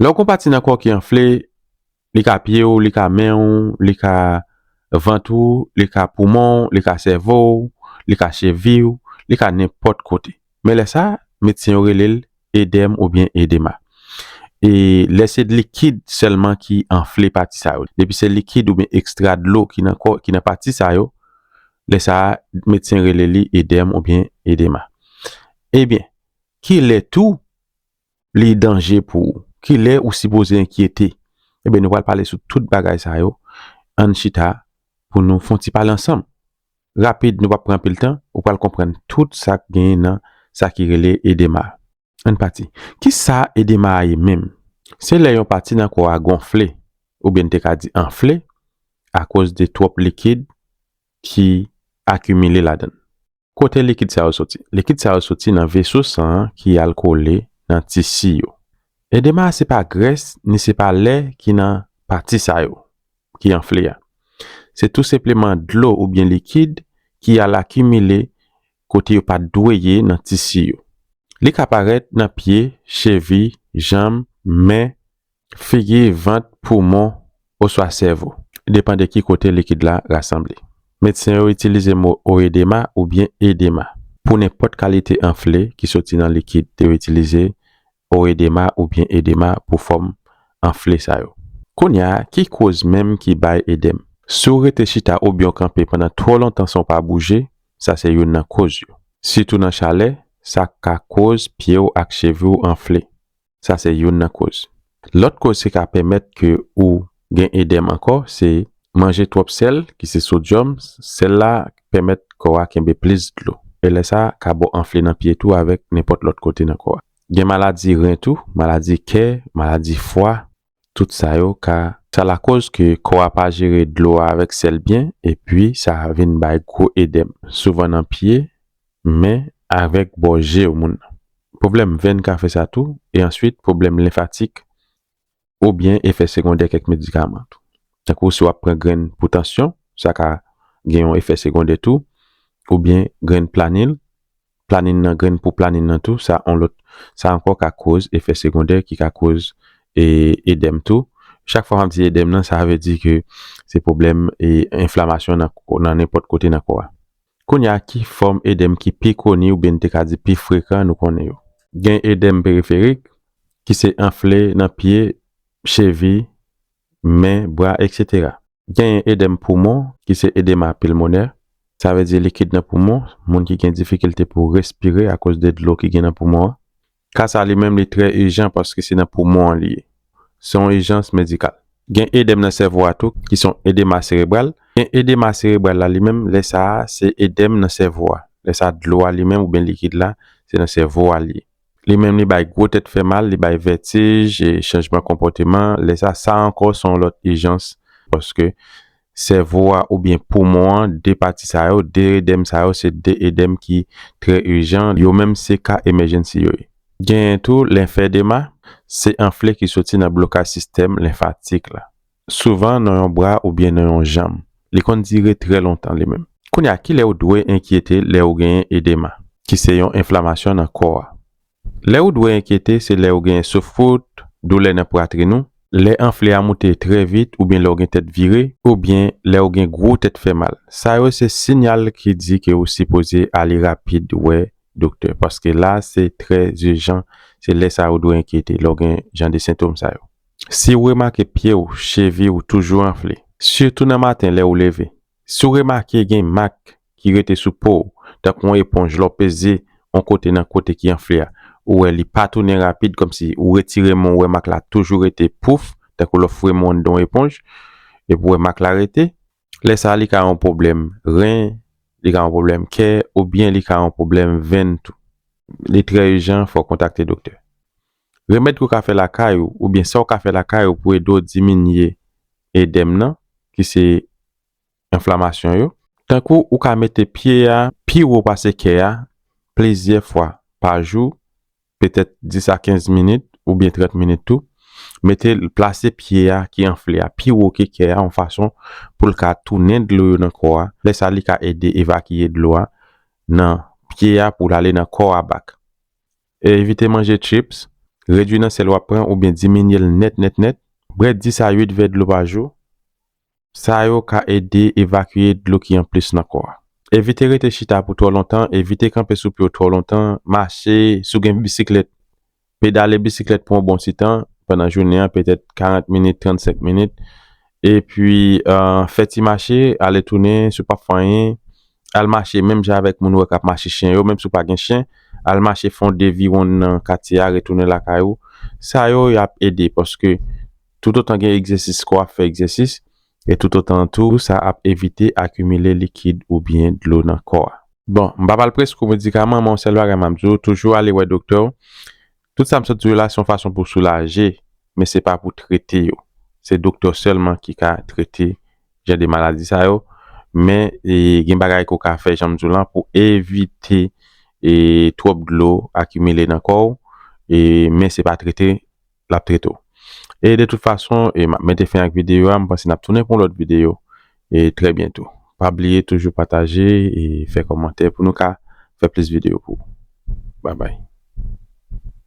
Lè w gen yon pati nan kò w ki anfle, li ka pye w, li ka men w, li ka vant ou, li ka poumon w, li ka sèvo w, li ka cheviy ou, li ka nenpòt kote. Men lè sa, medsen yo rele l edèm oubyen edema. E lè se likid sèlman ki anfle pati sa yo. Depi se likid oubyen ekstra dlo ki nan kò, ki nan pati sa yo, lè sa a, medsen rele li edèm oubyen edema. Ebyen, kilè tou li danje pou ou? Kilè ou sipoze enkyete? Ebyen nou pral pale sou tout bagay sa yo, ann chita pou nou fon ti pale ansanm. Rapid nou pap pran anpil tan, ou pral konprann tout sak gen nan sa ki rele edema. Ann pati. Kisa edema a ye menm? Se lè yon pati nan kò a gonfle, oubyen n te ka di anfle, akoz de twòp likid ki akimile ladann. Kote likid sa yo soti? Likid sa yo soti nan veso san an ki al kole nan tisi yo. Edema a se pa grès ni se pa lè ki nan pati sa yo ki anfle a. Se tou senpleman dlo oubyen likid ki al akimile kote yo pa t dwe ye nan tisi yo. Li ka parèt nan pye, chevi, janm, men, Figi, vant, poumon, oswa sèvo, depan de ki kote likid la rasanble. Medsen yo itilize mo oedema oubyen edema. Pou nenpòt kalite anfle ki soti nan likid, yo itilize oedema oubyen edema pou fòm anfle sa yo. Kounya, ki koz menm ki bay edèm? Si w rete chita oubyen w kanpe pandan twò lontan san w pa bouje, sa se youn nan koz yo. Sitou nan chalè, sa ka koz pye w ak chevi w anfle. sa se youn nan koz. Lòt koz ki ka pèmèt ke ou gen edèm ankò se manje twòp sèl ki se sodyòm, sèl la pèmèt kò a kenbe plis dlo e lè sa ka ba w anfle nan pye tou avèk nenpòt lòt kote nan kò a. Gen maladi ren tou, maladi kè, maladi fwa. Tout sa yo ka. Sa lakòz ke kò a pa jere dlo a avèk sèl byen epi sa vin bay gwo edèm, souvan nan pye, men, avèk bò je w moun nan. Pwoblèm venn ka fè sa tou, e answit pwoblèm lenfatik oubyen efè segondè kèk medikaman tou. Tankou si w ap pran grenn pou tansyon, sa ka gen yon efè segondè tou, oubyen grenn planil, planin nan grenn pou planin nan tou sa on lòt sa ankò ka koz efè segondè ki ka koz edèm tou chak fwa map di edèm nan sa vle di ke se pwoblèm enflamasyon nan nenpòt kote nan kò a kounya ki fòm edèm ki pi koni oubyen nou te ka di pi frekan nou konnen yo. Gen edèm periferik ki se anfle nan pye chevi men, bra eksetera. Genyen edèm poumon, ki se edema pilmonè, sa vle di likid nan poumon, moun ki gen difikilte pou respire akoz de dlo ki gen nan poumon an. Ka sa li menm li trè ijan paske se nan poumon an li ye. Se yon ijans medikal. Gen edèm nan sèvo a tou ki se yon edema serebral. Gen edema serebral la li menm, lè sa a se edèm nan sèvo a. Lè sa a dlo a li menm oubyen likid la se nan sèvo a li ye. Li menm li bay gwo tèt fè mal, li bay vètij, chanjman konpòteman, lè sa sa ankò son lòt ijans paske sèvo a oubyen poumon an 2 pati sa yo, 2 edèm sa yo se 2 edèm ki trè ijan, yo menm se ka emèjènsi yo ye. Genyen tou lenfedema, se anfle ki soti nan blokaj sistèm lenfatik la. Souvan nan yon bra oubyen nan yon janm. Li konn dire trè lontan li menm. Kounye a, kilè ou dwe enkyete lè ou genyen edema, ki se yon enflamasyon nan kò a? Lè ou dwe enkyete se lè ou genyen souf kout, doulè nan pwatrin ou, lè anfle a moute trè vit oubyen lè ou gen tèt vire, oubyen lè ou gen gwo tèt fè mal. Sa yo se sinyal ki di ke ou sipoze ale rapid wè doktè, paske la se trè ijan, se lè sa ou dwe enkyete, lè ou gen jan de sentom sa yo. Si ou remake pye ou, chevi ou toujou anfle, sitou nan maten lè ou leve. Si ou remake gen mak ki rete sou po ou, tankou yon eponj lè w peze yon kote nan kote ki anfle a, ou wè li pa tounen rapid kòmsi ou retire men w wè mak la toujou rete pouf tankou lè w fwe men w anndan yon eponj epi w wè mak la rete. Lè sa li ka yon pwoblèm ren, li ka yon pwoblèm kè oubyen li ka yon pwoblèm venn tou. Li trè ijan fò w kontakte doktè. Remèd ke w ka fè lakay ou oubyen sa w ka fè lakay ou pou ede w diminye edèm nan ki se enflamasyon yo. Tankou ou ka mete pye a pi wo pase kè a plizyè fwa pa jou, petèt 10 a 15 minit oubyen 30 minit tou, mete l plase pye a ki anfle a pi wo ke kè a yon fason pou l ka tounen dlo yo nan kò a, lè sa li ka ede evakiye dlo a nan pye a pou l ale nan kò a back. Evite manje chips, redwi nan sèl wap pran oubyen diminye l nèt nèt nèt. Bwè 10 a 8 vè dlo pa jou, sa yo ka ede evakye dlo ki anplis nan kò a. Evite rete chita pou twò lontan, evite kanpe sou pye w twò lontan, mache, si w gen bisiklèt, pedale bisiklèt pou yon bon ti tan pandan jounen an, petèt 40 minit, 35 minit, epi fè ti mache ale tounen, si w pap fè anyen, Al mache menm jan avèk moun ou wè k ap mache chen yo, menm si w pa gen chen, al mache fè yon devi wonn nan katye a, retounen lakay ou. Sa yo, y ap ede paske toutotan gen egzèsis kò ap fè egzèsis e toutotan tou sa ap evite akimile likid oubyen dlo nan kò a. Bon, m pa pral prese kou medikaman men yon sèl bagay m ap di w, toujou ale wè doktè w. Tout sa m sot di yo la se yon fason pou soulaje men se pa pou trete yo. Se doktè sèlman ki ka trete jan de maladi sa yo men gen bagay ke w ka fè jan m di w lan pou evite twòp dlo akimile nan kò w men se pa trete l ap trete w. E de tout fason m ap mete fen ak videyo a m panse n ap tounen pou yon lòt videyo trè byento. Pa bliye toujou pataje e fè kòmantè pou nou ka fè plis videyo pou ou. Babay.